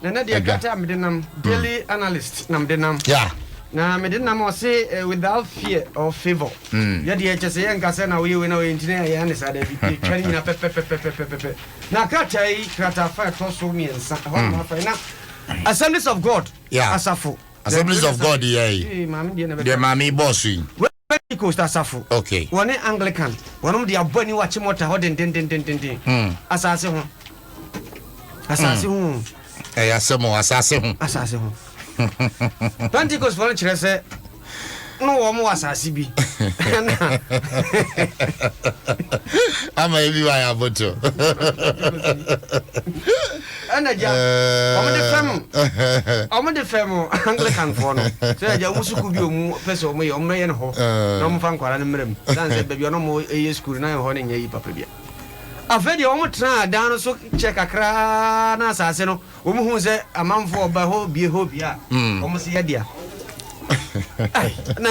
na na deɛ kata a mede nam daily hmm. analyst na mede nam na mede nam ɔse eh, without fear or favor hmm. yɛdeɛ ɛkyɛ sɛ yɛnka sɛ na woyɛ wei na woyɛ nti na yɛyɛ ne saa da bi yɛtwa no nyina pɛpɛpɛpɛpɛpɛ na krataa yi krataa fa ɛtɔ so mmiɛnsa ɛhɔ hmm. nafa na assemblies of god asafo assemblies of god yɛ yi deɛ maame bɔɔso yi Pentecost asafo, wɔne Anglican, wɔnom de abɔ ani wɔ akyemɔta hɔ dendendendenden, hmm. asase ho, asase hmm. ho. Ɛyɛ asɛm o, asase ho. Asase ho. Pentecost fɔ no kyerɛ sɛ no wɔn wɔ asase bi. Ama ebi wa yɛ aboto. Ɛna gya wɔn de fɛm wɔn de fɛm Anglican foɔ no sɛ gya wɔn sukuu bi wɔn pɛ sɛ wɔn yɛ wɔn bɛyɛ no hɔ na wɔn fa nkwadaa no mmerɛ mu san sɛ baabi a wɔn yɛ sukuu no na ɛhɔ no nyɛ yi papa bia afei deɛ wɔn tena dan no so kyɛ kakra na asase no wɔn hu sɛ amanfoɔ ɔba hɔ bie hɔ bia wɔn si yɛ dea na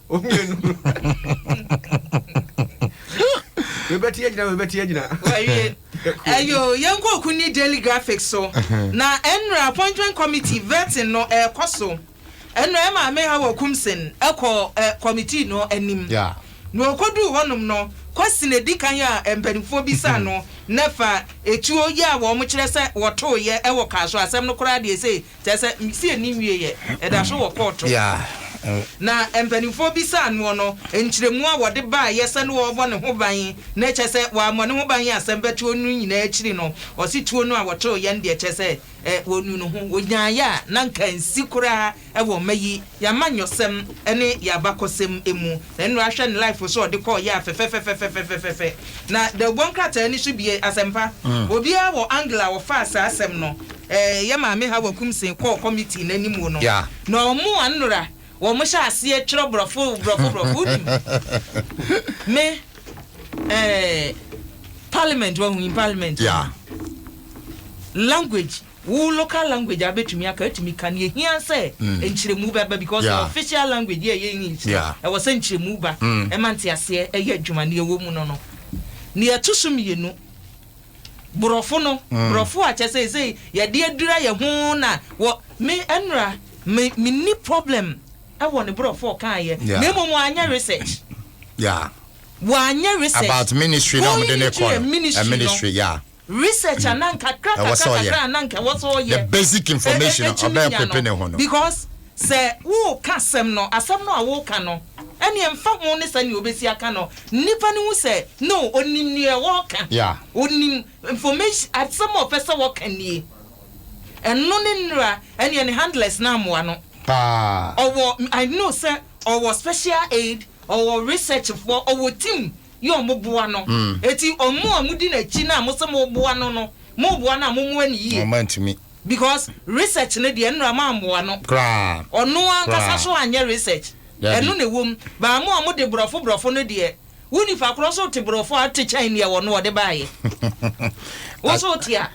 omienu webɛte agyina webɛte agyina ɛyo yɛnkɔ oku ne daily graphic so na ɛnura appointment committee vetting no ɛkɔ so ɛnura ɛma me ha wɔ kumsen ɛkɔ ɛ committee no anim na ɔkɔduu hɔnom no question edi kan a mpanimfoɔ bi sa no na fa etuo yɛ a wɔn kyerɛ sɛ wɔtoo yɛ ɛwɔ kaa so asɛm no koraa deɛ sɛ kyerɛ sɛ nsi ani nwieɛ, ɛda so wɔ kɔɔto. Na mpanimfoɔ bisaa noɔ no nkyerɛmu a wɔde baeɛ sɛ ne wɔrebɔ ne ho ban, na ɛkyerɛ sɛ wammɔ ne ho ban a asɛm bɛtoɔ no nyinaa akyiri no, ɔse tuo no a wɔtoeɛ no deɛ kyerɛ sɛ ɔnuu ne ho, ɔgyaeɛ a na nka nsi koraa wɔ mma yi y'amanyɔsɛm ne y'abakɔsɛm mu. Sɛ nra hwɛ ne life so ɔde kɔɔ yɛa fɛfɛfɛfɛfɛfɛfɛfɛ na da oguan krataa ni so bie asɛmpa obiaa wɔ angle a wɔfaa saa asɛm no eh yɛ maame Hawa Kumsee kɔɔ committee no anim no na ɔmo anra ɔmo hyɛ aseɛ twerɛ brɔfo brɔfo brɔfo wonim me eh parliament wahu in parliament language. Wo local language a bɛtumi aka atumi ka no ɛhia sɛ nkyerɛmu bɛba because yɛwɔ official language yɛ ɛyɛ English no ɛwɔ sɛ nkyerɛmu ba ɛma nteaseɛ ɛyɛ adwuma neɛ ɛwɔ mu no no neɛ ɛto so mmienu borɔfo no borɔfo a kyɛ sɛ ɛsɛ yɛde adura yɛ ho na wɔ me ɛnora me menni problem ɛwɔ ne borɔfo ɔkaeɛ na mmom anyɛ research yeah wɔanyɛ research about ministry na wɔde ne kɔ no ministry yeah research a na nkakra kakra kakra a na nka ɛwɔ sɛ ɔyɛ the basic information a ɔbɛn kwepe ne ho no because sɛ woka asɛm no asɛm no a woka no ɛne mfa ho ne sɛ nea obesi aka no nipa no hu sɛ no onim nea ɔka onim information asɛm a ɔpɛ sɛ ɔka nie ɛno ne nnura ɛne ne handlers na amoa no paa ɔwɔ I know sɛ ɔwɔ special aid ɔwɔ research foɔ ɔwɔ team yɛ ɔmo boa no eti ɔmo a ɔmo di n'akyi no a mo se mo boa no no mo boa no a mo moa no yie because research no deɛ nnora mo amoa no koraa ɔno ankasa so anyɛ research ɛno na ɛwom baa mo a mo de borɔfo borɔfo no deɛ wo nipa korɔ so te borɔfo a ɔte kyɛn neɛ ɔno ɔde baayɛ wo so te a.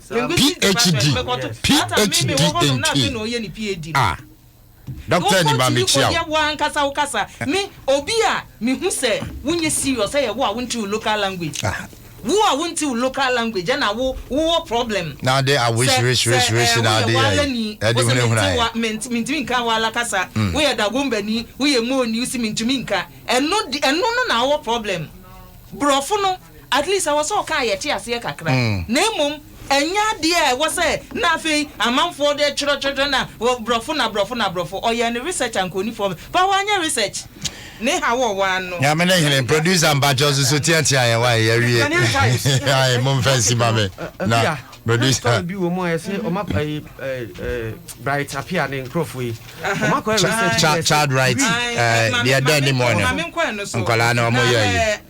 PHD, PHD in key. Ah, Doctor ni ba mi kyia o. Wo ankasa wo kasa me obi a me hu sɛ wo nyɛ serious ɛyɛ wo a wo nte wo local language ah. wo a wo nte wo local language ɛna wo wo wɔ problem na ade a wish wish wish wish na ade yɛ ɛde hune hune ayɛ mentumi nka wala kasa mm. wo yɛ dagombani wo yɛ moni wo si mentumi nka ɛno ɛno no na wɔ problem borɔfo no At least ɛwɔ sɛ ɔka a yɛte aseɛ kakra na mmom ɛnyɛ adeɛ a ɛwɔ sɛ na afei amanfoɔ de twerɛ twerɛ twerɛ na brɔfo na brɔfo na brɔfo ɔyɛɛ ne research ankɔnifoɔ bɛ ba wanyɛ research ne ha wɔ wɔn ano. Nyame ne hene producer mpakyɛw susu tia tia yɛn wa yɛ wie ayi mo nfa nsi ma me na producer bi wɔ mu a yɛsɛ ɔma ayi bright apia ne nkurɔfoɔ yi ɔma kɔ research child right deɛ dɛn ne mu ɔno nkɔlaa na ɔmo yɛ yi